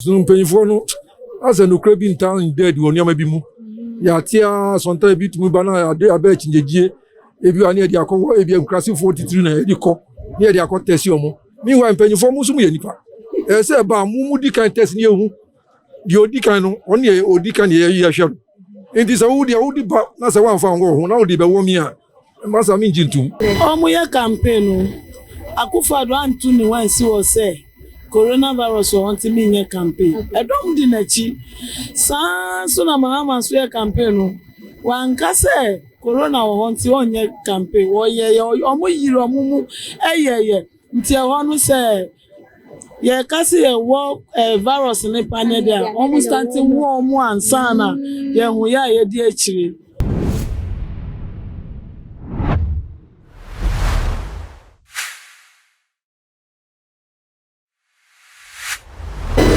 So mpanyimfo no asɛ nokorɛ bi ntaa nda adi wɔ nneɛma bi mu? Yɛate ara asɔnta a ebi tumi ba na ade abɛ akyinnyegyeɛ. Ebi wɔ a na yɛde akɔ hɔ, ebi nkurasefoɔ titiri na yɛde kɔ, na yɛde akɔ tɛsi wɔn. Meanwhile, mpanyimfoɔ mo nso moyɛ nnipa. Ɛsɛ sɛ ɛba a, mo modi kan tɛsi na yɛhu deɛ ɔdi kan no, ɔno na yɛdi kan na yɛhwɛ no. Enti sɛ wo deɛ wode ba na sɛ woamfa anwɔ wo ho na wode bɛwɔ me a, mma saa mengye ntom. Wɔreyɛ campaign no, Akufo-Addo anto ne ho ansi hɔ sɛ coronavirus wɔ hɔ nti menyɛ campaign. Ɛdɔm di n'akyi. Saa ara nso na Mahama nso yɛ campaign no, wanka sɛ corona wɔ hɔ nti ɔrenyɛ campaign. Wɔyɛeɛ, wɔyere wɔn mu yɛyɛ nti ɛhɔ no sɛ. yɛka sɛ yɛwɔ eh, virus ne pa ne de a wɔn stante wɔ wɔn ansa na yɛho yɛ a yɛdi akyire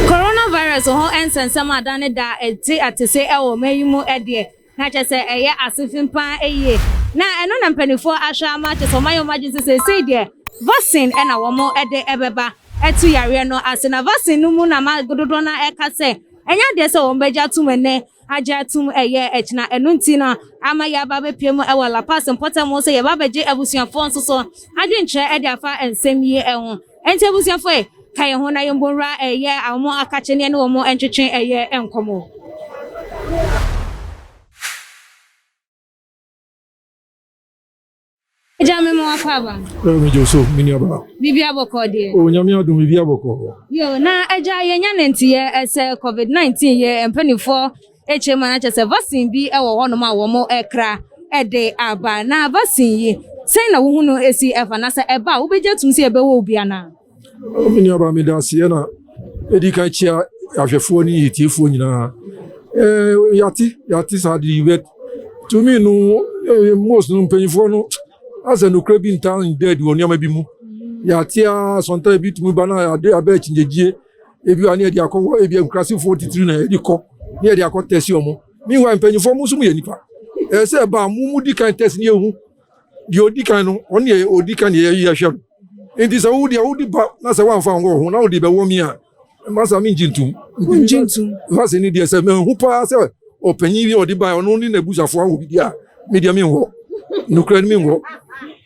coronavirus ho nsɛnsɛm ada ne da a ɛte atese wɔ ɔman yi mu deɛ. Na kyerɛ sɛ ɛyɛ asotwe paa yie. Na ɛno na mpanimfoɔ ahwɛ ama, kyerɛ sɛ wɔayɛ wɔn adwene sɛ seesei deɛ vaccine na wɔde bɛba atu yareɛ no ase. Na vaccine no mu na ma dodoɔ no ara ka sɛ ɛnyɛ adeɛ sɛ wɔbɛgye atom ɛnnɛ agye atom ɛyɛ akyina. Ɛno nti no ama yɛaba abɛpue mu wɔ La Paz mpɔtam sɛ yɛba abɛgye abusuafoɔ nso so adwenkyerɛ de afa nsɛm yi ho. Enti abusuafo ɛ, ka yɛn ho na yɛn bɔ nwura ɛ yɛ a wɔn akakye ne yɛne wɔn ntwetwe ɛ yɛ nkɔmmɔ. Agya, me ma w'akɔ aba no. Ɛ, me gye wo so, me nuabaa. Biribiara bɔkɔɔ deɛ? O, Nyame adom, biribiara bɔkɔɔ. Yoo, na Agya, yɛn nya ne nteɛ ɛ sɛ covid nineteen yɛ mpanifoɔ. Kyerɛ mu a, na kyerɛ sɛ vaccine bi wɔ hɔnom a wɔkra de aba. Na vaccine yi, sɛn na wo ho no si fa? Na sɛ ɛba a, wobɛgye atum sɛ ɛbɛwɔ wo bi anaa? Me nua baa, meda aseɛ na ɛdi kan kyia ahwɛfoɔ ne yɛtiefoɔ nyinaa. Yɛate, yɛate saa de yi, but to me no, most no mpanyinfoɔ no asɛ nokorɛ bi ntaa nda adi wɔ nneɛma bi mu. Yɛate a, sometimes bi tumi ba na abɛ akyingyegyie. ebi a ne yɛde akɔ hɔ ebi nkurasefoɔ titiri na yɛde kɔ ne yɛde akɔ tɛsi wɔn meanwhile mpanyinfoɔ mo nso mo yɛ nipa ɛyɛ sɛ ɛbaa mo mo di kan tɛsi ne ehu deɛ odi kan no ɔne yɛ odi kan yɛ yɛ hwɛ no nti sɛ wo deɛ wodi ba na sɛ wɔnfa wɔn ho na wode bɛwɔ mi a masa mi ngye ntum ngye ntum vaccine ne deɛ sɛ mehu paa sɛ ɔpanyin bi a ɔde ba ɔno ne n'abusuafoɔ awo bi a me deɛ menhu hɔ nokora no menhu hɔ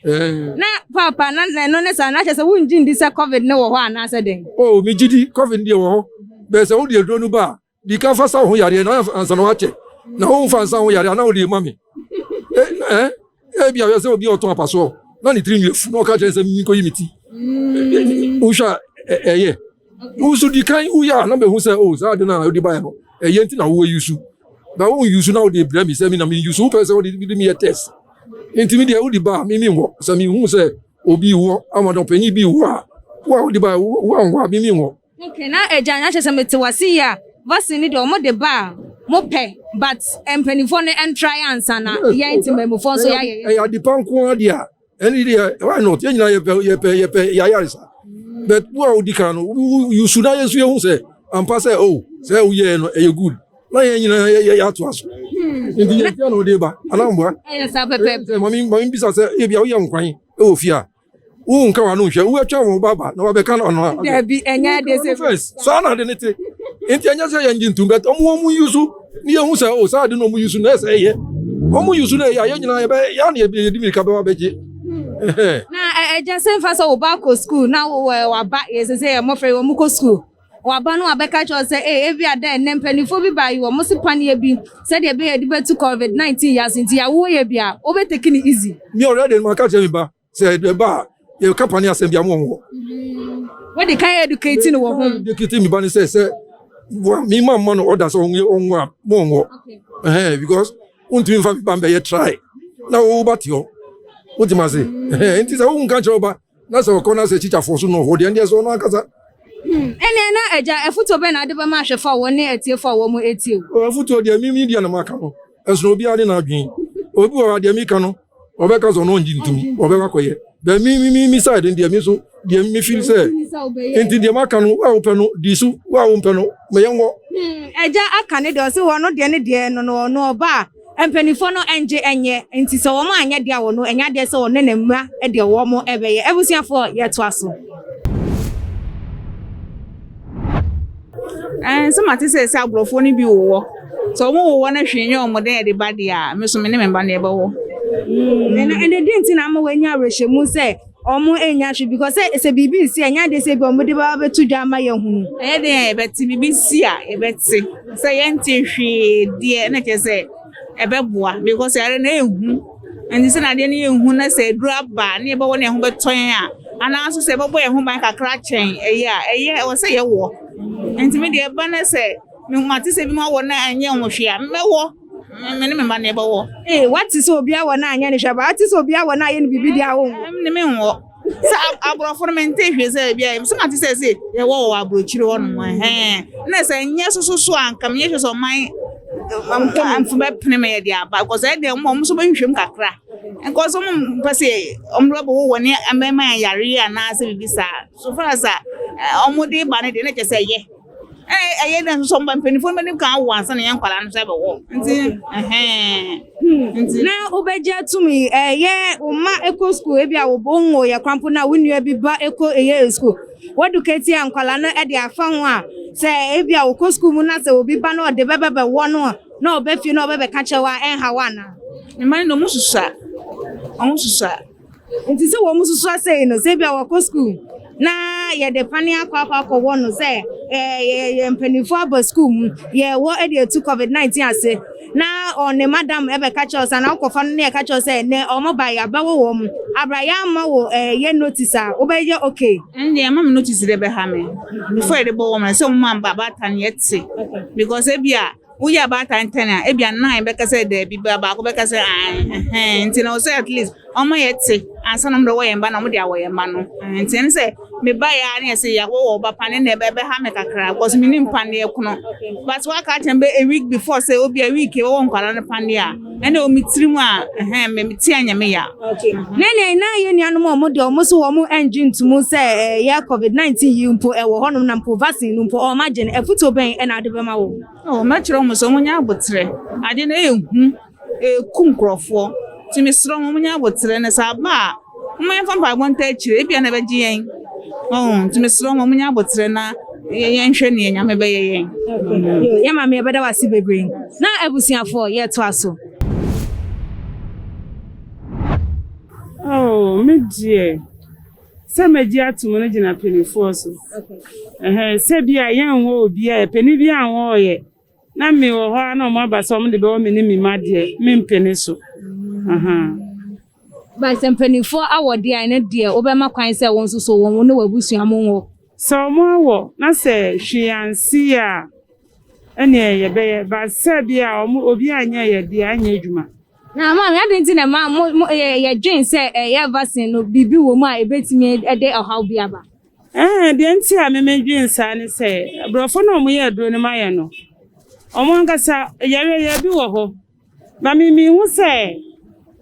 eh. na papa na ɛno ne saa na kyɛ sɛ wongye ndi sɛ covid ne wɔ hɔ anaasɛ dɛn o oh, megye di covid deɛ wɔ hɔ bɛɛ sɛ wode aduro no ba a di ka fa sa wo ho yareɛ na ansa na woakyɛ na womfa nsa ho yareɛ ana wode ma me ebi a sɛ obi ɔtɔn apasoɔ na ne tiri nwi afu na ɔka kyerɛ sɛ menkɔyi me ti mm. wohwɛ a ɛyɛ Wo nso di kan wu yɛ a na mehu sɛ oh saa ade no a wode baeɛ no ɛyɛ nti na wo ayusu na wo yusu na wode brɛ me sɛ me na me yusu wopɛ sɛ wode de me yɛ test nti me deɛ wode ba a me me nwɔ sɛ me hu sɛ obi wɔ ama na ɔpanyin bi wɔ a wo a wode ba wo a nwɔ a me me nwɔ. Okay na agya na kyerɛ sɛ mete wase yie a vaccine ne deɛ wɔn de ba a mo pɛ but mpanimfoɔ no ɛntrae ansa na yɛn te mmamufoɔ nso yɛayɛ yɛ. Ɛyɛ adepa nko ara deɛ a. ɛne deɛ why not yɛn nyinaa yɛpɛ yɛpɛ yɛpɛ yɛayare sa but wo a wodi kan no yusu na yɛn nso yɛhu sɛ ampa sɛ o oh, sɛ woyɛɛ no ɛyɛ good na yɛn nyinaa yɛyɛ atoa so nti yɛn fia na ɔde ba anamboa mame mame bisa sɛ ebi a woyɛ nkwan wɔ fie a wonka wano nhwɛ woatwa wɔn baba na wabɛka no ɔno dabi ɛnyɛ ade sɛ first saa na ade ne te nti ɛnyɛ sɛ yɛngye ntom but ɔmo ɔmo yusu Ne yɛhu sɛ o saa ade no ɔmo yusu no ɛsɛ ɛyɛ ɔmo yusu no ɛyɛ a yɛn nyinaa yɛbɛ yɛ a na yɛde mirika bɛba bɛgye. na ɛgya sɛ mfa sɛ wo ba kɔ skuul na waba yɛ sɛ sɛ yɛ mmɔfra yi wɔn kɔ skuul waba no wabɛka kyerɛ sɛ ee ebi ada ɛnɛ mpanimfoɔ bi baa yi wɔn si paneɛ bi sɛdeɛ ɛbɛyɛ de bɛtu covid nineteen yɛ ase nti awoɔ yɛ bi a wobɛteki ne easy. mi already ma ka kyerɛ mi ba sɛ ɛba a yɛka pane asɛm bi ama wɔn hɔ. wode kan educate no wɔ ho. educate mi ba ne sɛ sɛ mi ma ma no ɔda sɛ ɔnwo a mo ɔnwo ɛhɛn because wontumi nfa mi ba mbɛyɛ try na wo ba te hɔ wote ma se ɛhɛn nti sɛ wo nka kyerɛ ɔba na sɛ ɔkɔ na sɛ kyikyafo so no ɔhɔ deɛ ndeɛ sɛ ɔno ankasa. Hmm, ɛnna na agya afutuo bɛn na ade bɛma ahwɛfo a wɔne atiefo a wɔn etie. afutuo deɛ mi mi deɛ na ma ka no. Ɛsono obiara ne n'adwene. Obi wɔ hɔ a, deɛ meka no, ɔbɛka sɛ ɔno ɔngye ntom, ɔbɛkɔ akɔyɛ. Bɛ me me me me side no deɛ me nso deɛ me feel sɛ nti deɛ maka no a wopɛ no di so wo a wompɛ no ma yɛnwɔ. Agya hmm, aka ne deɛ ɔse hɔ no deɛ ne deɛ no no ɔno ɔba a mpanimfoɔ no ngye nyɛ nti sɛ wɔn anyɛ deɛ wɔ no ɛnyɛ adeɛ sɛ wɔne ne mma deɛ wɔn ɛbɛyɛ abusuafoɔ yɛtoa so. Ɛɛ sɛ mate sɛ sɛ aborɔfoɔ no bi wowɔ sɛ wɔn wowɔ no hwee nyɛ wɔn dɛ ɛde ba deɛ a me so me ne me ba no yɛbɛwɔ. ɛnna mm, ɛnna den ti na ama wɔanya awerɛhyɛmu sɛ wɔn anya hwee because sɛ sɛ biribi nsi ɛnyɛ adeɛ sɛ bi wɔn de ba bɛto dwa ama yɛn ho. ɛyɛ den a yɛbɛte biribi si a yɛbɛte sɛ yɛnte hwee deɛ ɛna kyerɛ sɛ ɛbɛboa because ɛyɛ na ehu. Ɛnte sɛ na adeɛ no yɛ hu na sɛ aduru aba ne yɛbɛwɔ ne ɛho bɛtɔ yɛn a anaa nso sɛ yɛbɛbɔ yɛn ho ban kakra kyɛn ɛyɛ a ɛyɛ ɛwɔ sɛ yɛwɔ. Nti me deɛ ɛba na sɛ mate sɛ bi ma wɔ na ɛnyɛ ho hwee a mɛwɔ me ne me mma na yɛbɛwɔ. Ee, wate sɛ obi awɔ na anyɛ ne hwee, but wate sɛ obi awɔ na ayɛ no biribi deɛ a wonwɔ. Me ne menwɔ. Sɛ aborɔfo no mente hwee sɛ ebi a so na te sɛ se yɛwɔ wɔ aburokyiri hɔ nom ɛhɛn na sɛ nyɛ soso so a nka menyɛ hwɛ sɛ ɔman mfo bɛpene ma yɛde aba because ɛdeɛ ɔmo ɔmo so bɛhwehwɛ mu kakra because ɔmo mpɛ sɛ ɔmo bɛbɔ wɔ wɔne ɛmɛma yɛn yareɛ anaasɛ biribi saa so far as a ɔmo de ba no deɛ na kyɛ sɛ yɛ. ɛyɛ dɛ nso mba mpanyinfo no bɛnim kan awo ansa na yɛn nkwadaa no nso ɛbɛwɔ nti ɛhɛn. nti na wobɛgye atum yi ɛyɛ wo mma ɛkɔ sukuu ebi a wo nwo yɛ kwampo na wo nua bi ba ɛkɔ ɛyɛ sukuu wɔdukɛti a nkwadaa no ɛde afa ho a sɛ ebi a wokɔ sukuu mu na sɛ obi ba na ɔde bɛbɛbɛwɔ no a na ɔbɛfie na ɔbɛbɛka kyerɛ wo a ɛnha wo anaa. mma no ɔmo susua ɔmo susua. Nti sɛ wɔn susua sei no, sɛ ebia wɔkɔ sukuu na yɛde pane akɔ akɔ akɔwɔ no sɛ yɛyɛ mpanimfoɔ aba sukuu mu yɛwɔ de atu COVID-19 ase na ɔne madam ɛbɛka kyerɛ sɛ na wokɔfa no ne ɛka kyerɛ sɛ nɛ ɔmo ba yɛ abɛwɔ wɔ mu abra yɛama wɔ yɛ notice a wobɛyɛ okay. Ɛnde ɛma me notice de bɛha me before yɛde bɔ wɔn sɛ wɔn amba baatan yɛte because ebia Woyɛ abaatan ntɛn a, ebia nnan bɛka sɛ dabi, baako bɛka sɛ ae. Ɛhɛn, nti na ɔsɛ at least ɔma yɛte ansa na ɔmo de ɔwɔ yɛn mma na ɔmo de awɔ yɛn mma no. Ɛhɛn, nti ɛne sɛ meba yɛ a ne yɛsɛ yɛawɔ wɔ ɔba pane na ɛbɛ ɛbɛha me kakra because menim paneɛ kono. But waka akyerɛ me bɛ a week before sɛ obia week yɛbɛwɔ nkwadaa no paneɛ a. ɛna wɔ me tiri mu a ɛhɛn me mete a nyame ya. na nea na yɛ nuanom a wɔn deɛ wɔn so wɔn ɛngye ntum sɛ ɛyɛ covid nineteen yi mpo ɛwɔ hɔnom na mpo vaccine no mpo wɔn agye no afutuo bɛn ɛna ade bɛma wɔn. ɔ mɛkyerɛ wɔn sɛ wɔn nyɛ abotrɛ ade na ɛyɛ hu ɛku nkurɔfoɔ ti mesrɛ wɔn wɔn nyɛ abotrɛ na sɛ aba a. Momma yɛmfa mpaebɔ ntaa akyire, ebia na ɛbɛgye yɛn. Oh, nti mesrɛ wɔn munya aboterɛ na yɛnhwɛ nea Nyame bɛyɛ yɛn. Yɛ maame yɛbɛda wase bebree. Na abusuafoɔ yɛtoa so. Oh, me deɛ sɛ magye atom no gyina mpanimfoɔ so. Ɛhɛn sɛ bi a yɛnwɔ obi a panin bi anwɔ ɔyɛ. Na me wɔ hɔ ara na wɔn aba sɛ wɔn de bɛwɔ me ne me mma deɛ me mpene so ahaa. But sɛ mpanimfoɔ awɔ deɛ a ɛno deɛ wobɛma kwan sɛ wɔn nso so wɔn wo ne w'abusua mo nwɔ. Sɛ wɔn awɔ na sɛ hwee ansi yɛ a ɛneɛ yɛbɛyɛ but sɛ bi a wɔn obi anyɛ yɛ deɛ anyɛ adwuma. Na maame adi nti na ɛma mo yɛ dwen sɛ ɛyɛ vaccine no biribi wɔ mu a ɛbɛtumi ɛde ɔhaw bi aba. Ɛɛ, deɛ nti a memedwen saa ne sɛ, aborɔfo no a wɔyɛ aduro no ma yɛ no, wɔn ankasa yareɛ yareɛ bi wɔ hɔ. Na mehu sɛ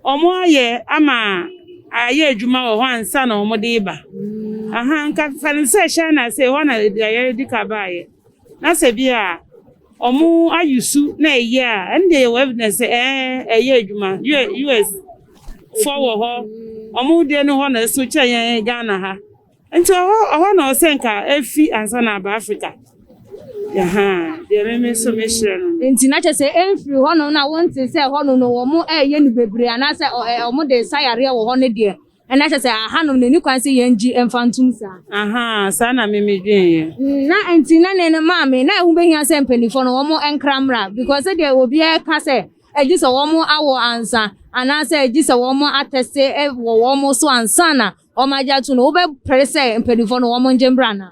wɔayɛ ama ayɛ adwuma wɔ hɔ ansa na wɔde reba. Aha, nka fa no sɛ China sɛ hɔ na yareɛ di ka baeɛ. Na sɛ bi a. Ɔmo ayi su na ɛyɛ a, ɛno deɛ yɛwɔ evidence sɛ ɛɛ ɛyɛ adwuma. US fɔ wɔ hɔ, ɔmo deɛ no hɔ na ɛso kyɛn yɛn Ghana ha. Nti ɔhɔ ɔhɔ na ɔsɛ nka efi ansa na aba Africa. Yahaa, deɛ me me so mehyerɛ no. Nti na kyɛ sɛ ɛmfiri hɔnom na wonte sɛ hɔnom no wɔn ɛɛyɛ no bebree anaasɛ ɔmo de sa yareɛ wɔ hɔ ne deɛ. Ɛna kyerɛ sɛ ahanom no ɛni kwan sɛ yɛn gye mfa ntom saa. Ahaa saa na me me dwen yɛ. Mm na ɛnti na ne no maa me na ɛho bɛhia sɛ mpanifoɔ no wɔn ɛnkra mmra because sɛdeɛ obiara ɛka sɛ ɛgye sɛ wɔn awɔ ansa anaasɛ ɛgye sɛ wɔn atɛse wɔ wɔn so ansa na wɔn agye ato no wobɛ pere sɛ mpanifoɔ no wɔn ngye mmra na.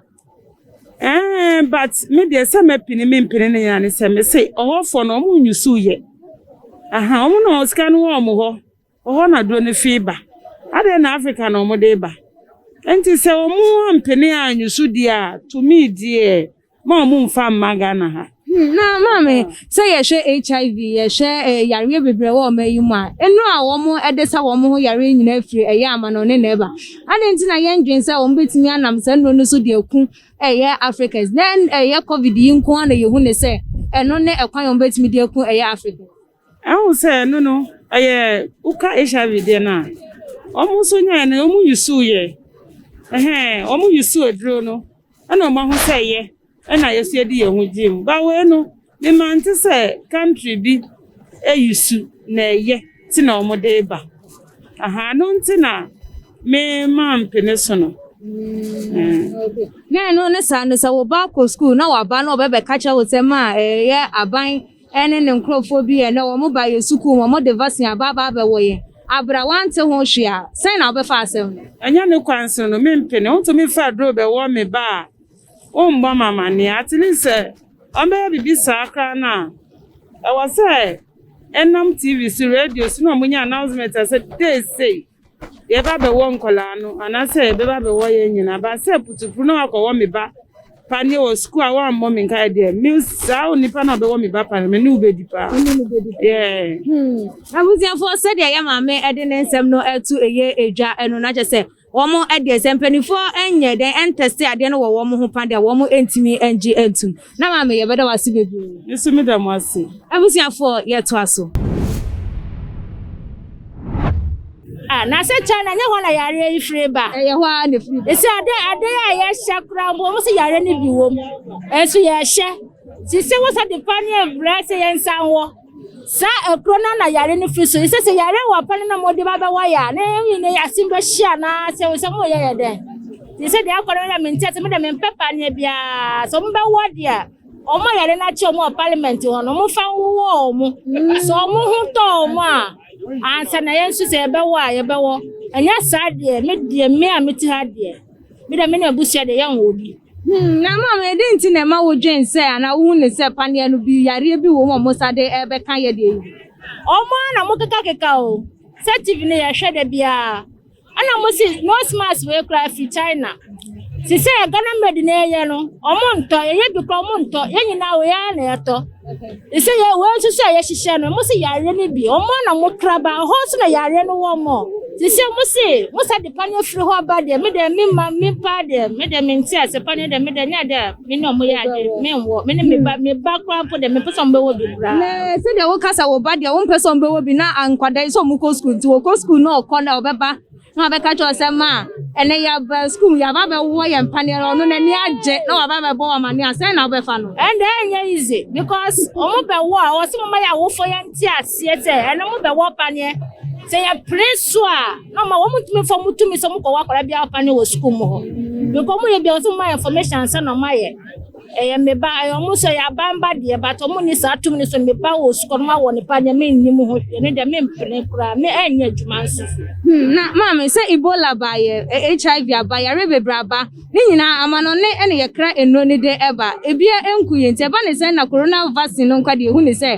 Ɛɛ eh, but me deɛ sɛ mɛpini me mpini ne nyinaa ne sɛ me se ɔhɔfoɔ no wɔn nyusu yɛ aha wɔn na wɔn sika no wɔ wɔn hɔ. Hɔ na aduro no fii ba. Adɛn na Afrika na wɔde reba? Enti sɛ wɔampene a nniso di a tumi di ɛ, ma wɔmfa mma Ghana ha. Na maame, sɛ yɛhwɛ HIV, yɛhwɛ yareɛ bebree wɔ ɔman yi mu a, nnuro a wɔde sa wɔn ho yareɛ nyinaa firi ɛyɛ amanɔne na ɛba. Adɛn nti na yɛndwene sɛ wɔbɛtumi anam saa nnuro no so de aku ɛyɛ Africans? Na ɛyɛ Covid yi nko ara na yɛhu no sɛ ɛno ne ɛkwan a wɔbɛtumi de aku ɛyɛ Africans? Ehu sɛ ɛno no ɛyɛ woka HIV deɛ no a wɔn nso nyae no wɔn yusu yɛ ɛhɛn wɔn yusu aduro no ɛna wɔn aho sɛ yɛ ɛna yɛsi adi yɛn ho gye mu ba wei no mema nte sɛ country bi eyusu na ɛyɛ ti na wɔn de ba aha no nti na me ma mpene so no. Na ɛno ne saa no sɛ wo ba kɔ sukuu na waba na ɔbɛbɛka kyerɛ wo sɛ ma ɛyɛ aban Ɛne ne nkurɔfoɔ bi yɛ na wɔn ba yɛn sukuu mu, wɔn de vaccine aba aba abɛwɔ yɛn. Abra, wante ho hwee a, sɛn na wobɛfa asɛm no? Ɛnyɛ ne kwanso no, mempene. Wontumi fa aduro bɛwɔ me ba a, wommɔ me amanneɛ. At least sɛ wɔbɛyɛ biribi saa koraa no a, ɛwɔ sɛ ɛnam TV so, radio so na wɔnya announcement sɛ date sei, yɛba bɛwɔ nkwadaa no anaasɛ yɛbɛba bɛwɔ yɛn nyinaa ba sɛ putupu na wakɔwɔ me ba paneɛ wɔ sukuu a wammɔ me nkae deɛ me saa onipa na ɔbɛwɔ me ba paneɛ me ne wo bɛdi paa yɛɛ hmm. abusuafoɔ sɛdeɛ yɛ maame de ne nsɛm no ɛto ɛyɛ ɛdwa ɛno na kyɛ sɛ wɔn ɛdeɛ sɛ mpanimfoɔ ɛnyɛ dɛn ɛntɛste adeɛ no wɔ wɔn ho pa deɛ wɔn ɛntumi ɛngye ɛntum Na maame yɛbɛda wo ase bebree. Me nso meda mo ase. Abusuafoɔ yɛtoa so. Ah, na sɛ China nyɛ hɔ na yareɛ yi firi ba. Ɛyɛ hɔ a na firi ba. Ɛsɛ ade ade a yɛhyɛ koraa mpo wɔn sɛ yareɛ no bi wɔ mu. Ɛnso yɛhyɛ. Sisi wɔ sɛ de pa ne ɛbrɛ sɛ yɛn nsa wɔ. saa kuro no na yare no fi so ɛsɛ sɛ yare wɔ pɛ no na mode ba bɛwɔ yɛ a na ɛyi ne asem bɛhyia na sɛ wo sɛ moyɛ yɛ dɛn te sɛ deɛ akɔrɔ yɛ mente sɛ mede mempɛ paneɛ biara sɛ mobɛwɔ deɛ ɔmo yare no akyɛ ɔmo wɔ parliament hɔ no ɔmo fa wowɔ ɔmo sɛ ɔmo ho tɔ ɔmo a ansa na yɛn nso sɛ yɛbɛwɔ a yɛbɛwɔ ɛnyɛ saa deɛ me deɛ me a mete ha deɛ Me dɛ me ne abusua de yɛnwɔ obi. Hmm, na maame, ɛdɛn nti na ɛma wodwen sɛ anaa wohu ne sɛ paneɛ no bi yareɛ bi wɔ mu a wɔsa de ɛbɛka yɛ deɛ yi? Ɔmo ara na mokekakeka o. Sɛ TV no yɛhwɛ da biara. Ɛna mo se nose mask wei koraa ɛfiri China. Te sɛ Ghana made na yɛyɛ no, ɔmo ntɔ, yɛyɛ bi koraa ɔmo ntɔ. Yɛn nyinaa wei ara na yɛtɔ. Sɛ yɛ wɔn nso sɛ yɛhyehyɛ no mo se yareɛ no bi wɔn na mo kra ba hɔ nso na yareɛ no wɔ mo te sɛ mo se mo sa de paneɛ firi hɔ ba deɛ me deɛ me ma me pa deɛ me deɛ me nte ase paneɛ deɛ me deɛ nyɛ deɛ me ne ɔmo yɛ ade me nwɔ me ne me ba me ba kora mpo deɛ me pɛ sɛ ɔmo bɛwɔ bi kora. Na sɛ deɛ wo kasa wo ba deɛ wɔn pɛ sɛ ɔmo bɛwɔ bi na ankwadaa yi sɛ ɔmo kɔ sukuu nti wɔkɔ sukuu na ɔkɔ na ɔbɛba. na wabɛka kyerɛ sɛ ma ɛnɛ yɛaba sukuu mu yɛaba bɛwɔ yɛn mpaneɛ no ɔno n'ani agye na waba bɛbɔ wɔn amane a sɛn na wobɛfa no ɛnde ɛnyɛ easy because wɔn bɛwɔ a wɔsɛ moma yɛ awofo yɛ nte aseɛ sɛ ɛno mo bɛwɔ paneɛ sɛ yɛpere so a na ɔma wɔn tumi fɔ mo tumi sɛ mokɔwɔ akwadaa biara paneɛ wɔ sukuu mu hɔ because wɔn yɛ bi a wɔsɛ moma information ansa na wɔayɛ Ɛyɛ me ba ɛyɛ ɔmo sɛ ɛyɛ aban ba deɛ but ɔmo ni saa tum ne so me ba wɔ sukɔ no ma wɔ ne pa nyɛ me nnim ho hwɛ ne deɛ me mpene koraa me ɛnyɛ adwuma nso. Hmm na maame sɛ ebola ba yɛ HIV aba yare bebree aba ne nyinaa amanɔne ɛna yɛkra enuro ne de ɛba ebia ɛnku yɛ nti ɛba ne sɛn na corona vaccine no nkwa deɛ ehu ne sɛ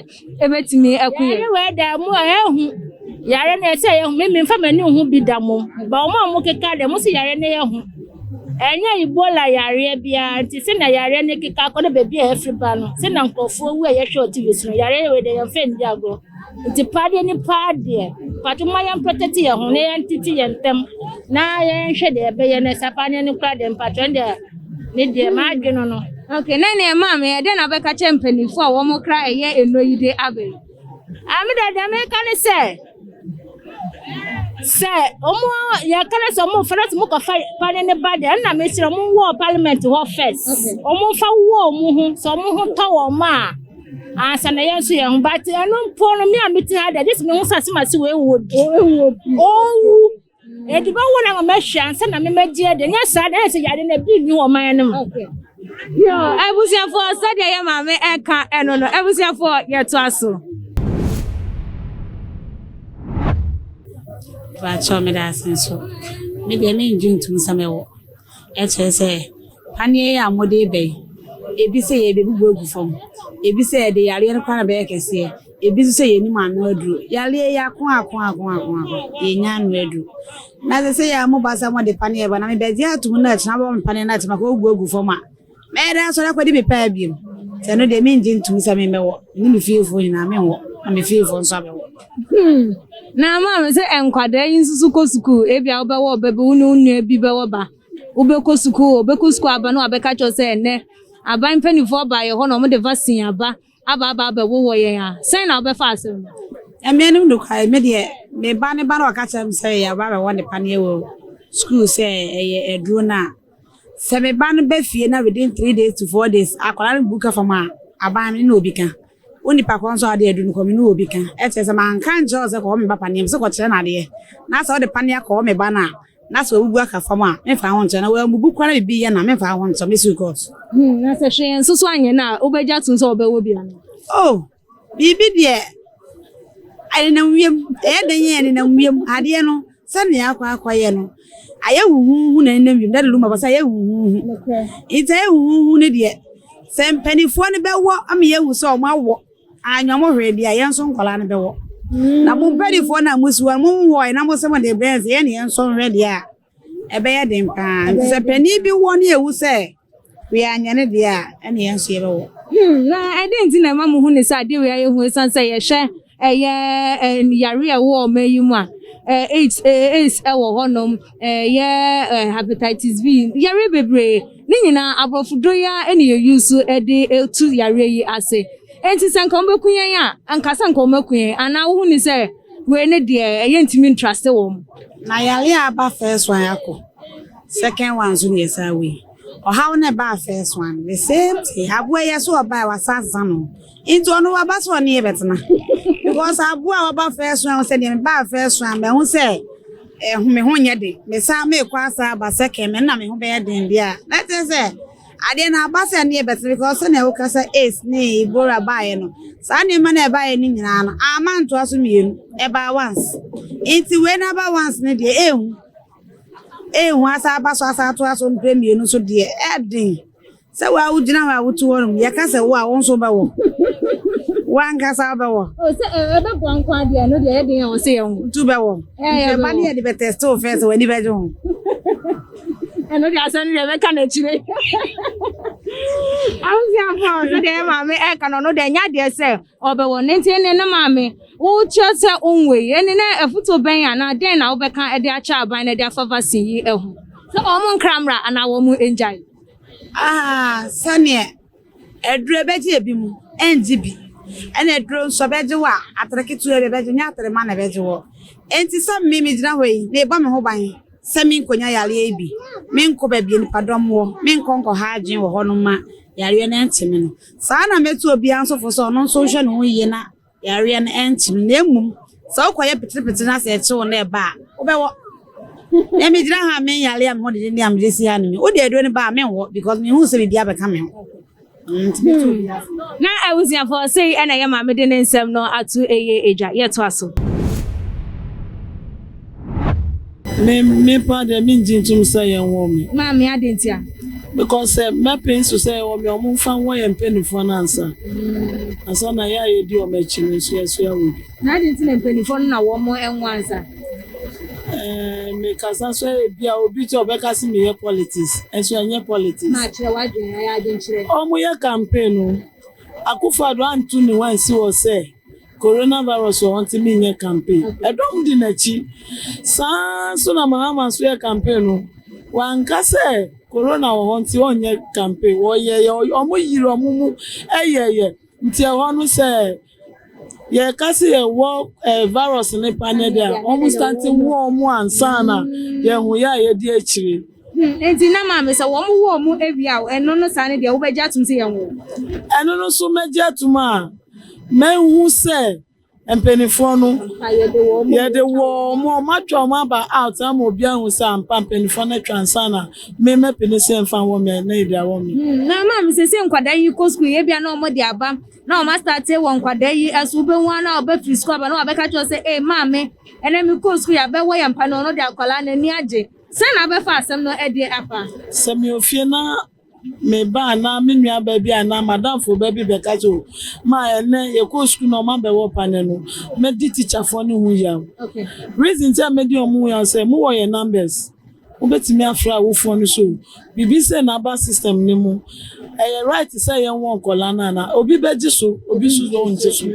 ɛbɛtumi aku yɛn. Yɛyɛ wei da mu a ɛhu yare no ɛsɛ yɛhu me memfa m'ani ho bi da mom ba wɔn a wɔkeka dɛ mo sɛ yare no yɛhu ɛnyɛ ebola yareɛ biara nti sɛ na yareɛ no keka akɔ no baabi a ɛfiri ba no sɛ na nkurɔfoɔ wu a yɛhwɛ wɔ tv so no yareɛ wei dɛ yɛmfa ndi agorɔ nti paadeɛ ne paadeɛ pato ma yɛn protect yɛn ho na yɛntete yɛn ntam na yɛnhwɛ deɛ ɛbɛyɛ no ɛsɛ paadeɛ no kora deɛ mpatwɛn deɛ ne deɛ m'adwe no no ok na ne ɛma me ɛdɛ na bɛka kyɛ mpanimfoɔ a wɔn kra ɛyɛ ɛno yi de abɛ ame dɛ deɛ meka ne sɛ sɛ ɔmo yɛka ne sɛ ɔmo fɛrɛ sɛ ɔmo kɔfa pane ne ba deɛ ɛna mesrɛ ɔmo wɔ parliament hɔ first ɔmo fa wɔ ɔmo ho sɛ ɔmo ho tɔ wɔ ɔmo a ansa na yɛn nso yɛn ho but ɛno mpo no me a mete ha deɛ gye sɛ mehu sɛ asɛm ase wɔ ewu obi owu Yɛde bɛwo no ama mahwe ansa na memɛgye adi nyɛ saa na ɛyɛ sɛ yare no bi nni wɔ man no mu. Abusuafoɔ sɛdeɛ yɛ maame ɛka ɛno no abusuafoɔ yɛtoa so. Bakyɛ meda ase nso medeɛ mengye ntom sɛ mɛwo. Kyerɛ sɛ, paneɛ yi a mode reba yi, ebi sɛ yɛbɛbubu agu fam, ebi sɛ yɛde yareɛ no koraa na ɛbɛyɛ kɛseɛ, ebi nso sɛ yɛnnim ano aduro. Yareɛ yi ako ako ako ako ako, yɛnnya ano aduro. Na sɛ sɛ yɛ a moba sɛ mode paneɛ reba na mebɛgye atom na akyire na mobɛma me paneɛ no atim a, ka ɔbubu agu fam a. Mɛyɛ dɛn asɔre akɔdi me paa bio? Sɛ ɛno deɛ, mengye ntom sɛ me mɛwɔ. Me ne me fiefoɔ nyinaa, menwɔ, na me fiefoɔ nso abɛwɔ. Hmm. Na ama me sɛ nkwadaa yi nso so kɔ sukuu. Ebia wobɛwɔ ɔba bi, wo ne wo nua bi bɛwɔ ba. Wobɛkɔ sukuu, ɔbɛkɔ sukuu aba no abɛka kyerɛ sɛ ɛnɛ aban mpanimfoɔ baeɛ hɔ na wɔde vaccine aba aba aba abɛwowɔ yɛn a, sɛn na wobɛfa asɛm no? Ɛmeɛ no nokware, me deɛ me ba ne ba na ɔka kyerɛ me sɛ yɛaba abɛwɔ ne paneɛ wɔ sukuu sɛ ɛyɛ aduro no a, Sɛ me ba no ba fie na within three days to four days akwadaa no bu ka fam a, aban me ne obi ka. Wo nipa korɔ nso adeɛ adu no kɔ me ne obi ka. Ɛkyerɛ sɛ manka nkyerɛ wo sɛ kɔwɔ me ba paneɛ me sɛ kɔkyerɛ no adeɛ. Na sɛ wode paneɛ kɔwɔ me ba no a na sɛ wabubu aka fam a memfa ho nkyerɛ na wambubu koraa na biribi yɛ no a memfa ho nkyerɛ mɛsi wo kɔɔto. Hmm, na sɛ hwee nso so anyɛ no a wobɛgye atom sɛ wɔbɛwɔ bi anaa? Oh, Biribi deɛ ɛnenam wiem, ɛyɛ dɛn yɛ ɛnenam wiem adeɛ no sɛdeɛ akɔ akɔyɛ no ayɛ huhuuhu na ɛnenam wiem dade luma bɔ sɛ ayɛ huhuuhu nti ayɛ huhuuhu no deɛ sɛ mpanimfoɔ no bɛwɔ ama yɛahu sɛ wɔn awɔ anyɛ wɔn hwee deɛ yɛn nso nkwadaa no bɛwɔ na mo mpanimfoɔ no a mosiwɔ no monwɔɔɛ na mose mode brɛ yɛn sɛ yɛn ne yɛn nso nhwɛ deɛ a Ɛbɛyɛ den paa. Nti sɛ panin bi wɔ ne ɛwu sɛ wea anyɛ ne deɛ a, ɛne yɛn nso yɛbɛwɔ. Hmm, na ɛde nti na ɛma mo hu ne sɛ adeɛ wei ayɛ hu ɛsiane sɛ yɛhwɛ ɛyɛ yare a ɛwɔ ɔma yi mu a AIDS AIDS ɛwɔ hɔnom ɛyɛ hepatitis B yare bebree ne nyinaa aborɔfo do ya ɛne yɛ yi so ɛde etu yare yi ase nti sɛ nka wɔn bɛku yɛn a nka sɛ nka wɔn aku yɛn anaa wohu ne sɛ Wei ne deɛ ɛyɛ ntumi ntrase wɔn. Na yare a aba first one akɔ second one so neɛ saa wei ɔhaw na ɛbaa first one the same thing aboa yɛ so ɔbaa wasa asesa no nti ɔno waba so ɔne yɛ bɛtena because aboa ɔba first one sɛ deɛ mebaa first one mɛho sɛ ɛho me ho nyɛ de mesaa meekɔ asa aba second me na me ho bɛyɛ den deɛ a na kyerɛ sɛ Adeɛ no aba sɛ ɛneɛ bɛtena because sɛnea woka sɛ AIDS ne Ebola baeɛ no saa nneɛma no ɛbaeɛ no nyinaa no ama ntoa so mmienu ɛbaa once nti wei no aba once no deɛ ɛnhu ɛnhu asa aba so asa atoa so mprɛ mmienu so deɛ ɛden sɛ wo a wogyina hɔ a wotu hɔ nom yɛka sɛ wo a wo nso bɛwɔ wo ankasa wobɛwɔ sɛ ɛbɛboa nko adeɛ no deɛ ɛden a wɔ sɛ yɛn ho ntu bɛwɔ ɛba ne yɛde bɛtɛste wo fɛ sɛ w'ani bɛgye ho ɛno deɛ asɛm deɛ mɛka no akyire awoseafoɔ sɛ deɛ maame ɛka no ɔno deɛ ɛnyɛ adeɛ sɛ ɔbɛwɔ ne nti ne ne maame wokyerɛ sɛ ɔnwei ɛne na afoto bɛn anaa dɛn na wobɛka de akyɛ aban na de afa vaccine yi ho sɛ wɔn nkra mmra anaa wɔn ngyae ah, sɛneɛ Aduro bɛgye ebi mu ɛngye bi ɛna aduro nso bɛgye wo a atere ketewa bi bɛgye nyɛ atere ma na ɛbɛgye wɔ enti sɛ me me gyina hɔ yi me bɔ me ho ban sɛ me nkɔ nya yareɛ yi bi me nkɔ baabi a nipa dɔm wɔ me nkɔ nkɔ ha adwene wɔ hɔ nom ma yareɛ no ɛnte me no saa na mɛtu obiara nso fo sɛ ɔno nso nhwɛ ne ho yie na Yareɛ no ɛnkye no, na mmom sɛ wokɔ yɛ peterepetere na sɛ ɛkye wo na ɛba a, wobɛwɔ. Na me gyina ha a me yare a me ho dede ne a me de si ha ne me. Wode aduro no ba a, menwɔ because me hu sɛ biribi abɛka me ho. Hmm. Na abusuafoɔ sei ɛna ɛyɛ maame de ne nsɛm no ato eye agya yɛtoa so. Me me paa deɛ me ngye ntum sɛ yɛn wɔ me. Maame adɛn nti a? Because sɛ mɛ pɛ nso sɛ yɛwɔ me a ɔmo nfa nwɔ yɛn mpɛnifoɔ no ansa. Ansa na yɛ a yɛ di ɔmo akyi no nso yɛ nso yɛ wɔ bi. Na adɛn nti na mpɛnifoɔ no na wɔ mo ɛnwɔ ansa? Ɛɛ me kasa so ɛyɛ bi a obi ti ɔbɛ kasi me yɛ politics ɛnso yɛ nyɛ politics. Maa kyerɛ wa dwen ayɛ adwen kyerɛ. Ɔmo yɛ campaign no Akufo Addo antu ne ho ansi hɔ sɛ Coronavirus wɔ hɔ nti menyɛ campaign. Ɛdɔm di n'akyi. Saa ara nso na Mahama nso yɛ campaign no, wanka sɛ Corona wɔ hɔ nti ɔnyɛ campaign. Wɔyɛeɛ, wɔyere wɔn mu yɛeɛ. Nti ɛhɔ no sɛ yɛka sɛ yɛwɔ eh, virus no paneɛ deɛ a, wɔn starte wo wɔn ansa na yɛahu yɛ a yɛdi akyire. Hmm, enti na maame sɛ wɔn wɔ wɔn awia o, ɛno no saa no deɛ wobɛgye atom sɛ yɛnwo? Ɛno no so mɛgye atom a mahu sɛ mpanimfoɔ no yɛde wɔ wɔn a wɔatwa wɔn aba out ama obi ahu sɛ ampa mpanimfoɔ no atwa nsa na me mɛpene sɛ mfa wɔ me na ebi awɔ me. Hmm, na maame sɛ sɛ nkwadaa yi kɔ sukuu yɛ bia na wɔde aba na wɔn asate wɔ nkwadaa yi ɛso wobɛhu a na wɔbɛfiri sukuu aba na wɔbɛka kyerɛ sɛ ee maame ɛnɛ mekɔɔ sukuu yɛabɛwɔ yɛn mpa no ɔno de akwadaa n'ani agye Sɛn na wobɛfa asɛm no adi afa? Sɛ mewɔ fie na me ba anaa me nuabaa bi anaa m'adamfo ba bi bɛka sɛ, O, ma ɛnnɛ yɛkɔɔ sukuu na wɔabɛwɔ panneɛ no, mɛdi tikyafoɔ no ho yaw. Reason nti a mɛdi wɔn ho yaw sɛ, mowɔ yɛn numbers, wobɛtumi afrɛ awofoɔ no sɛ, O, Bibi sɛ n'aba system no mu ɛyɛ right sɛ yɛnwɔ nkɔla no ana obi bɛgye so obi so deɛ ɔngye so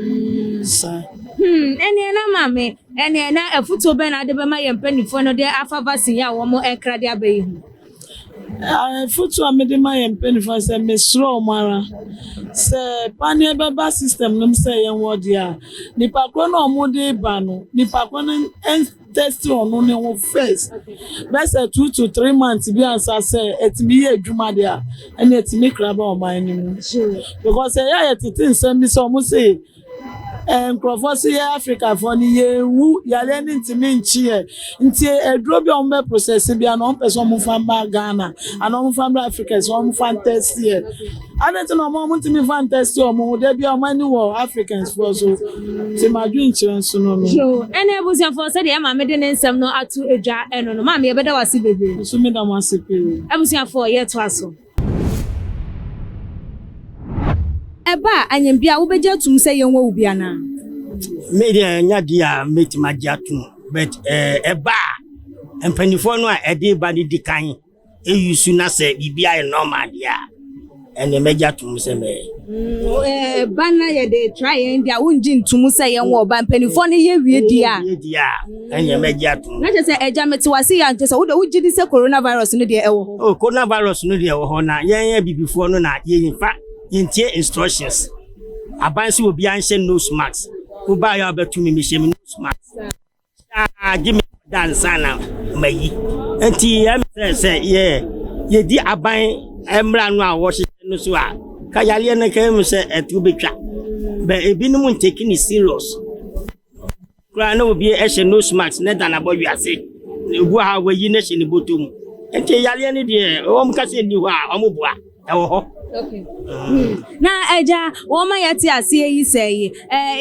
saa. Hmm ɛneɛ na maame ɛneɛ na afutuo bɛn na wode bɛma yɛn mpanifoɔ no de afa vaccine yi a wɔn ɛkra de aba yi ho? Afutuo a mede ma yɛn mpanifoɔ no sɛ mesrɛ wɔn ara sɛ paneɛ bɛba system no mu sɛ yɛnwɔ deɛ a nipa korɔ no a wɔde ba no nipa korɔ no tɛsti ɔno ne ho fɛst bɛsɛ two to three months bi ansa sɛ ɛtumi yɛ adwuma deɛ a ɛna ɛtumi kra ba ɔman no mu because ɛyɛ a yɛtete nsɛm bi sɛ ɔmo se eh, nkurɔfoɔ se yɛ afrikafoɔ no yɛnwu yareɛ no ntumi nkye yɛ nti aduro bi a ɔmo bɛ process bi a na ɔmo pɛ sɛ ɔmo fa mba ghana ana ɔmo fa mba africa sɛ ɔmo fa ntɛsti yɛ Adɛn nti na wɔn a wɔntumi mfa ntɛsti wɔn ho da biara wɔn ani wɔ Africansfoɔ so te m'adwenkyerɛ nso no no? Yoo, ɛne abusuafoɔ sɛdeɛ maame de ne nsɛm no ato dwa ɛno no. Maame, yɛbɛda wo ase bebree. Me nso meda mo ase pii. Abusuafoɔ, yɛtoa so. Ɛba a, anyambia a, wobɛgye atum sɛ yɛnwɔ wo bi anaa? Me deɛ ɛnya di a mɛtumi agye atum, but ɛba a, mpanimfoɔ no a ɛde ba no di kan. Eyi su na sɛ biribi ayɛ normal deɛ a, ɛnneɛ mɛgye atom sɛ mɛyɛ. Mm, ba na yɛde tra yɛn deɛ a wongye ntom sɛ yɛn wɔ ba mpanimfoɔ no yɛ wie di a di a ɛnneɛ mɛgye atom na kyɛ sɛ agya mete wase yɛ ankyɛ sɛ wode wogye di sɛ coronavirus no deɛ ɛwɔ hɔ o coronavirus no deɛ ɛwɔ hɔ na yɛn abibifoɔ no na yɛmfa yɛntie instructions aban sɛ obiara nhyɛ nose mask wobaeɛ a wobɛto me mehyɛ me nose mask saa gye me da nsa na mayi nti ɛm sɛ sɛ yɛ yɛdi aban mmara no a wɔhyehyɛ no so a ka yareɛ no ka mu sɛ ɛto bɛtwa bɛ ebinom ntake ne serious koraa na obi hyɛ nose mask na da nabɔ wiase na obu a wɔyi no hyɛ ne bɔtɔ mu nti yareɛ no deɛ wɔn ka sɛ nni hɔ a wɔn boa ɛwɔ hɔ. na agya wɔn ma yɛte aseɛ yi sɛ yi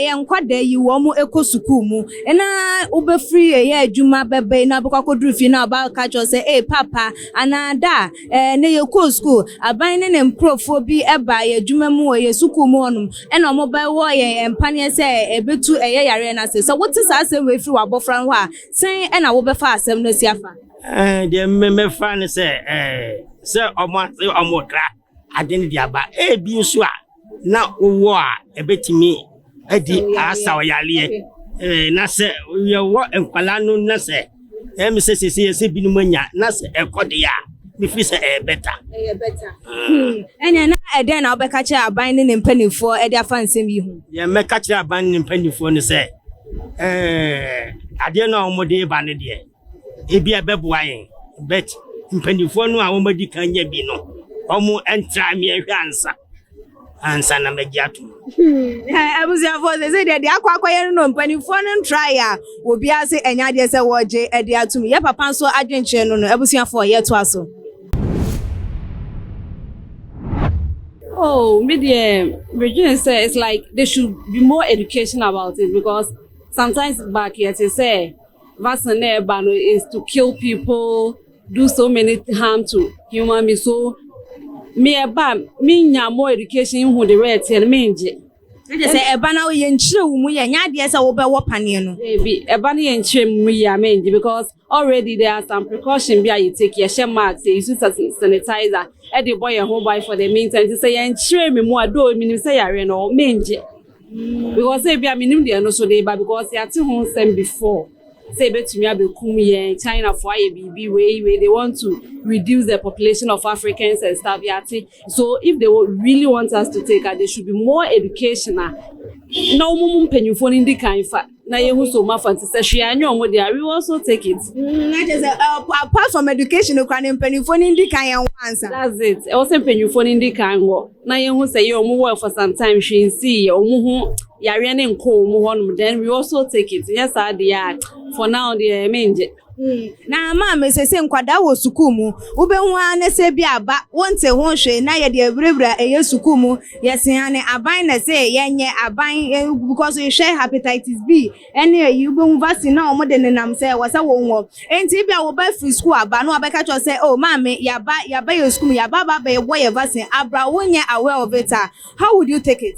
yɛ nkwadaa yi wɔn kɔ sukuu mu na wobɛfiri ɛyɛ adwuma bɛba yi na bɛkɔ akɔduru fie na ɔba ka kyerɛ sɛ ee papa anaa da na yɛkɔɔ sukuu aban ne ne nkurɔfoɔ bi ba yɛ adwuma mu wɔ yɛ sukuu mu hɔnom ɛna wɔn bɛwɔ yɛn mpaneɛ sɛ ɛbɛtu ɛyɛ yareɛ no ase sɛ wote saa asɛm wei firi w'abɔfra no hɔ a sɛn ɛna wobɛfa asɛm no asi afa Eh, deɛ me mɛfa ne sɛ eh, sɛ ɔmo ase ɔmo kra ade no de aba ebi nso a na wowɔ a ɛbɛtumi adi asa ɔyareɛ eh, na sɛ yɛwɔ nkwadaa no na sɛ ɛmi sɛ sese yɛsɛ binom anya na sɛ ɛkɔ deɛ a mefiri sɛ ɛyɛ bɛta ɛyɛ bɛta hmm. ɛnna na ɛdɛn na wobɛka kyerɛ aban ne ne mpanimfoɔ ɛde afa nsɛm yi ho deɛ mɛka kyerɛ aban ne ne mpanimfoɔ no sɛ eh, adeɛ no a wɔde ba no deɛ Ebia ɛbɛboa yɛn, but mpanimfoɔ no a wɔadi kan nya bi no, wɔntra mmea hwɛ ansa ansa na magye atom. Hmm. Eh, abusuafoɔ sɛ sɛ deɛ deɛ akɔ akɔyɛ no no mpanimfoɔ no ntraeɛ a obiara sɛ ɛnyɛ adeɛ sɛ wɔgye ɛde atom yɛ papa nso adwenkyerɛ no no abusuafoɔ yɛtoa so. Oh, me deɛ regina sɛ it's like they should be more education about it because sometimes back yɛte sɛ Vaccine na ɛba no is to kill people, do so many harm to human being. So me ɛba me nya more education ihu de wɛ ɛteɛ no me ngye. Ɛde sɛ ɛba na yɛ nkyerɛ wo mu yɛ nya adeɛ sɛ wobɛ wɔ paneɛ no. Ebi ɛba no yɛ nkyerɛ mu yɛ a me ngye because already there are some precaution bi a yɛ take yɛ hyɛ mask yɛ use sanitizer ɛde bɔ yɛ ho ban for the meantime. Nti sɛ yɛ nkyerɛ me mu a though menim sɛ yareɛ no me ngye. Because say bia menim deɛ no so de ba because yɛate ho nsɛm before sɛ ebetumi abɛkum yɛn China fo ayɛ biribi wei wei they want to reduce the population of Africans and stuff yɛate so if they really want us to take ah they should be more educational na wɔn mu mpanyinfoɔ no ndi kan fa na yɛ hu so ɔmo afa nti sɛ hwee anyɛ ɔmo deɛ a we will also take it. Mm na kyerɛ sɛ ɛɛ apart from education no koraa no mpanyinfoɔ no ndi kan ɛnwɔ ansa. That's it ɛwɔ sɛ mpanyinfoɔ no ndi kan wɔ na yɛ hu sɛ yɛ ɔmo wɔɛ for some time hwee nsii yɛ ɔmo ho yareɛ no nkɔɔ ɔmo hɔ nom then we will also take it nyɛ saa deɛ a for now deɛ me ngye. Na ama me sɛ sɛ nkwadaa wɔ sukuu mu, wobɛhu ara ne sɛ bi aba wonte ho hwee na yɛde awurawura ɛyɛ sukuu mu, yɛsea ne aban na sɛ yɛnyɛ aban because hwɛ hepatitis B ɛne ayi wobɛhu vaccine na wɔn de nenam sɛ wɔ sɛ wɔn wɔ. Enti bi a wo ba firi sukuu aba na wabɛka kyerɛ sɛ oh maame yaba yaba yɛ sukuu mu yaba aba abɛwɔ yɛ vaccine abra wonyɛ aware of it a how would you take it?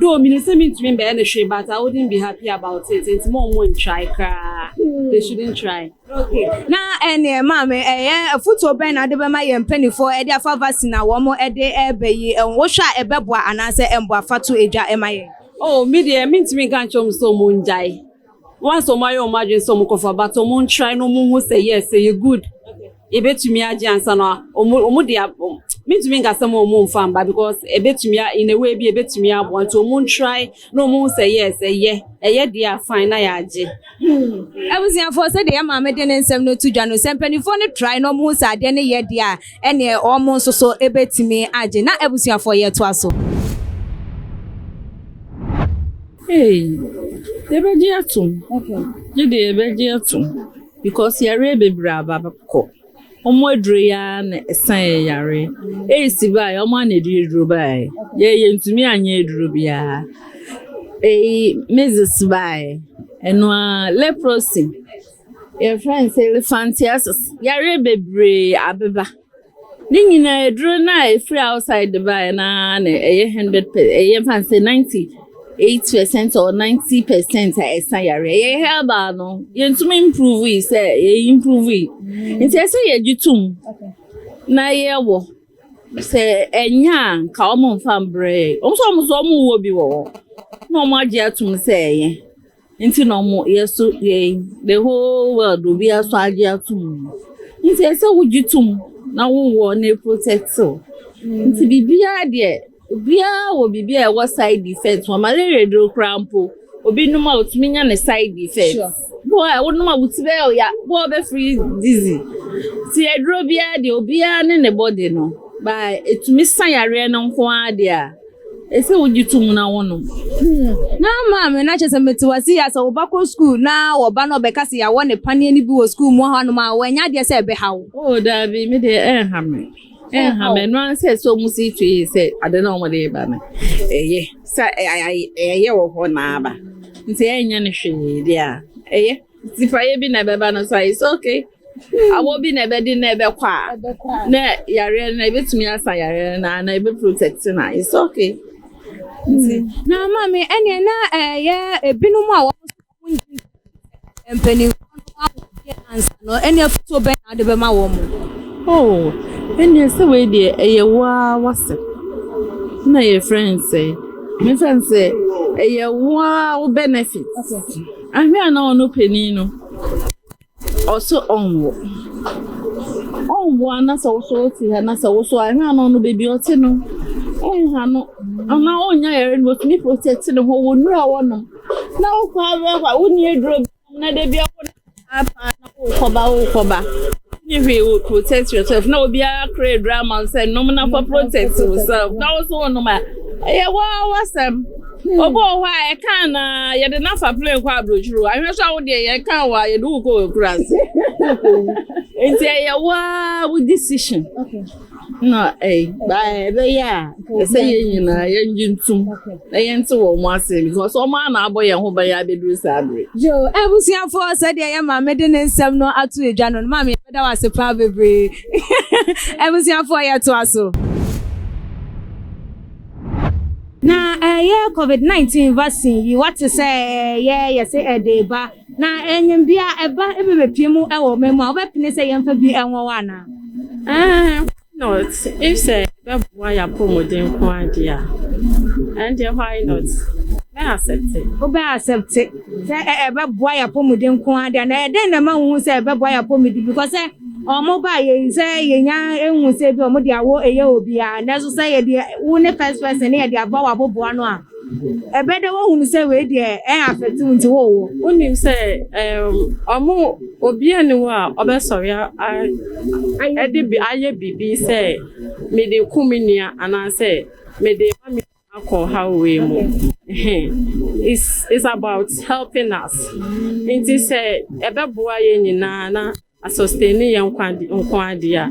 Though minim sɛ mintumi mbɛyɛ no hwee but I wouldn't be happy about it nti ma ɔmo ntry koraa they shouldn't try. Okay na ɛneɛ maame ɛyɛ afutuo bɛn na wode bɛma yɛn mpanifoɔ de afa vaccine a wɔn de ɛɛba yi ho wohwɛ a ɛbɛboa anaasɛ ɛmboa fa to edwa ma yɛn. Oh me deɛ mintumi nka nkyerɛ ɔmo sɛ ɔmo ngyae. Once ɔmo ayɛ ɔmo adwene sɛ ɔmo kɔfa but ɔmo ntry na ɔmo nhu sɛ yes ɛyɛ good yɛbɛtumi agye ansa na ɔmo ɔmo de mentumi nka sɛ mo ɔmo nfa mba because ɛbɛtumi a in a way bi ɛbɛtumi aboa nti ɔmo ntry na ɔmo hu sɛ yes ɛyɛ ɛyɛ deɛ a fine na yɛagye. Hmm. Abusuafoɔ sɛdeɛ yɛ maame de ne nsɛm no to dwa no sɛ mpanimfoɔ no try na ɔmo hu sɛ adeɛ no yɛ deɛ a ɛneɛ ɔmo nso so ɛbɛtumi agye na abusuafoɔ yɛtoa so. Hey, yɛbɛgye atom. Gye deɛ yɛbɛgye atom. Because yareɛ bebree aba kɔ. Wɔn aduro yi ara na ɛsan yɛ yareɛ. Ɛyisi baa yɛ, wɔn ana ɛde aduro baa yɛ. Yɛ yɛntumi anyɛ aduro biara. Ɛyi measles baa yɛ. Ɛno ara leprosy. Yɛfrɛ no sɛ elephantiasis. Yareɛ bebree abeba. Ne nyinaa aduro no a ɛfiri outside de baeɛ no ara na ɛyɛ hundred per ɛyɛ mfa sɛ ninety eight percent or ninety percent a ɛsa yareɛ yɛ herbal no yɛntumi improve yi sɛ yɛ improve yi nti ɛsɛ yɛgye tom na yɛwɔ sɛ ɛnyɛ a nka wɔn mfa mbrɛ yɛ wɔn nso wɔn nso wɔn wɔ bi wɔ hɔ na wɔn agye atom sɛ ɛyɛ. Nti na ɔmo yɛ so yɛn the whole world obiara so agye atum nti ɛsɛ wogye tum na wowɔ ne protectil nti biribiara deɛ obiara wɔ biribi a ɛwɔ side effect wɔ malaria duro koraa mpo obi nom a otumi nya ne side effect Sure. bo a wonom a woti bɛyɛ ɔya bo a ɔbɛfiri dizzy ti aduro biara deɛ obiara ne ne body no ba etumi sa yareɛ no nko ara deɛ a. Ɛsɛ sɛ wogye tom na wonom. Na maame no akyɛ sɛ mete wase yɛ sɛ wo ba kɔ sukuu na wɔ ba no ɔbɛka sɛ yɛawɔ ne paneɛ no bi wɔ sukuu mu hɔ nom a wɔanya adeɛ sɛ ɛbɛha wo. Oh daabi me deɛ ɛnha me ɛnha me ɛno ara sɛ sɛ ɔmo si twe yi sɛ ade na ɔmo de ba no ɛyɛ sɛ ɛyɛ wɔ hɔ na aba nti ɛnyɛ ne hwee deɛ a ɛyɛ. Sifayɛ bi na ɛbɛba no so a, it's okay. Awɔ bi na ɛbɛdi na ɛbɛkɔ a, na yareɛ no ɛbɛtumi asa yareɛ no na ɛbɛ protect no a, it's okay. Nti. Na maame ɛneɛ na ɛyɛ eh, ebinom a wɔn mpanimfoɔ no ahoɔden ansa no ɛneɛ foto bɛn na ade bɛma wɔn. Oh, ɛneɛ sɛ wei deɛ ɛyɛ waa wasɛ na yɛ friend sɛ, me friend sɛ ɛyɛ waa wo benefit. Okay. Ahwɛ a na ɔno panin no ɔse ɔnwo ɔnwo a na sɛ woso wote ha na sɛ woso ahwɛ a na ɔno baabi ɔte no ɔnha no ɔno a ɔnya yɛre no ɔtumi protect ne ho wɔ nnuro a wɔnom na wokɔ abɛkɔ a wonni aduro bi na da bi a wɔnom paa paa na Wokɔba wokɔba wonni hwee wo protect yourself na obiara kora aduru ama wo sɛ nom na fa protect yourself na wo so wonom a ɛyɛ waa wasɛm obi wɔ hɔ a ɛka na yɛde no afa plane kɔ aburokyiri ahwɛ so a wodeɛ yɛka wɔ a yɛde wokɔ wɔ akura ase nti ɛyɛ waa wo decision Na eh, by ɛbɛyɛ a ɛsɛ yɛn nyinaa yɛngye ntom na yɛnte wɔn ase because wɔn ara na abɔ yɛn ho ban yɛ abɛduru saa bere. Yo, abusuafoɔ sɛdeɛ yɛ maame de ne nsɛm no ato edwa no, maame yɛbɛda wo ase paa bebree. abusuafoɔ yɛtoa so. Na ɛyɛ eh, covid 19 vaccine yi wate sɛ ɛyɛ eh, yɛse ɛde eh, ba Na enyim bi a ba bi bepue mu wɔ ɔman mu a, wɔbɛpene sɛ yɛmfa bi nwɔ hɔ anaa? Ɛɛ, why not? If sɛ ɛbɛboa yɛn apɔwmuden nko ara deɛ a, ɛndeɛ why not? Mɛ accepte. Wobɛ accepte sɛ ɛbɛboa yɛn apɔwmuden nko ara deɛ a, na ɛdɛn na ɛma wohu sɛ ɛbɛboa yɛn apɔwmuden? Because sɛ wɔn ba yɛ sɛ yɛnya ehu sɛ ebi wɔn de awɔ ɛyɛ obiara, nanso sɛ yɛde wo ne first person ne yɛde aba wɔ aboboa no a, Ɛbɛda woahunu sɛ wei deɛ ɛn afɛte wo nti wowɔ. Wonim sɛ ɔmo obi ani wɔ a ɔbɛsɔre ɛde bi ayɛ biribi sɛ mede ku me nua anaasɛ mede ma me nua akɔ ɔhaw wei mu is is about helping us nti sɛ ɛbɛboa yɛn nyinaa na. Asɔstene yɛ nkwa ade nko ara deɛ a,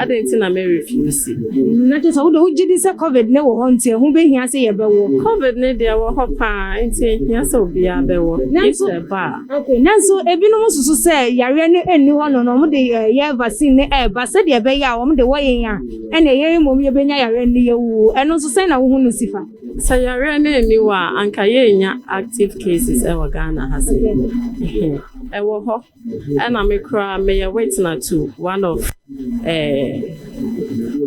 adɛn nti na merefewsi? Na kyerɛ sɛ wo deɛ wogye di sɛ Covid no wɔ hɔ nti ɛho bɛhia sɛ yɛbɛwɔ? Covid no deɛ ɛwɔ hɔ pa ara, enti ɛhia sɛ obiara bɛwɔ, gye sɛ ɛba a. Ok, nanso ebinom susu sɛ yareɛ no nni hɔ no na wɔde yɛ vaccine no reba sɛdeɛ ɛbɛyɛ a wɔde wɔ yɛn a, ɛnneɛ yɛn mmom yɛbɛnya yareɛ no na yɛawuo. Ɛno nso sɛn na wohu no si fa? Sɛ yareɛ no nni hɔ a, anka yɛrennya active cases wɔ Ghana ha sei. Ɛwɔ hɔ. Ɛna me koraa meyɛ witna to one of eh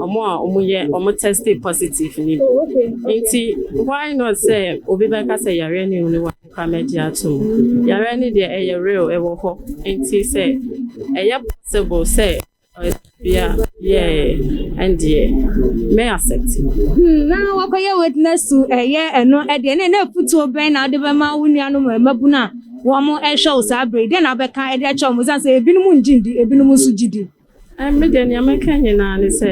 ɔmo a ɔmo yɛ ɔmo tɛsti positive ni bi nti why not sɛ obi bɛka sɛ yareɛ ne wuni wa koraa mɛgye ato mu yareɛ ne deɛ ɛyɛ real ɛwɔ hɔ nti sɛ ɛyɛ possible sɛ Ɔbea yeah ɛndeɛ mɛ accept. Hmm, na wakɔyɛ witness to ɛyɛ eh, ɛno eh, ɛdeɛ ne na afutuo bɛn na wode bɛma wo nuanom eh, mmabunu a wɔn ɛhwɛ wo saa bere dɛn na wobɛka ɛde akyɛ wɔn sane sɛ ebinom ngye ndi ebinom nso gye di. Me deɛ nea mɛka nyinaa ne sɛ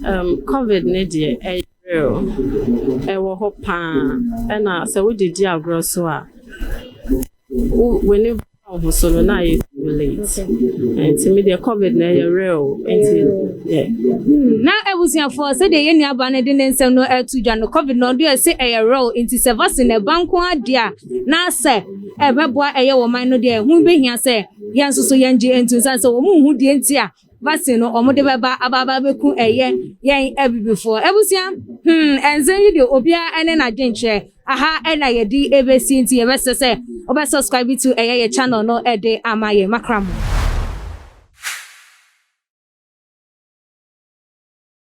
um, covid ne deɛ ɛyɛ real ɛwɔ hɔ paa ɛna sɛ wode di agorɔ so a w'ani Wo ho so no na ayɛ too late. Nti me deɛ COVID na ɛyɛ real. Nti yeah. Na abusuafoɔ sɛdeɛ yɛn nuabaa no de ne nsɛm no ato dwa no, COVID no deɛ se ɛyɛ real. Nti sɛ vaccine na ɛba nko ara deɛ a na sɛ ɛbɛboa ɛyɛ wɔ man no deɛ ɛho bɛhia sɛ yɛn nso so yɛngye ntom sane sɛ wɔn nhu deɛ nti a vaccine no ɔmo de bɛba aba aba bɛku ɛyɛ yɛn abibifoɔ abusua hmm ɛnsɛm yi deɛ obiara ɛne n'adwenkyerɛ aha ɛna yɛde ɛbɛsi nti yɛbɛsɛ sɛ wobɛ subscribe to ɛyɛ yɛ channel no ɛde ama yɛn makra mo.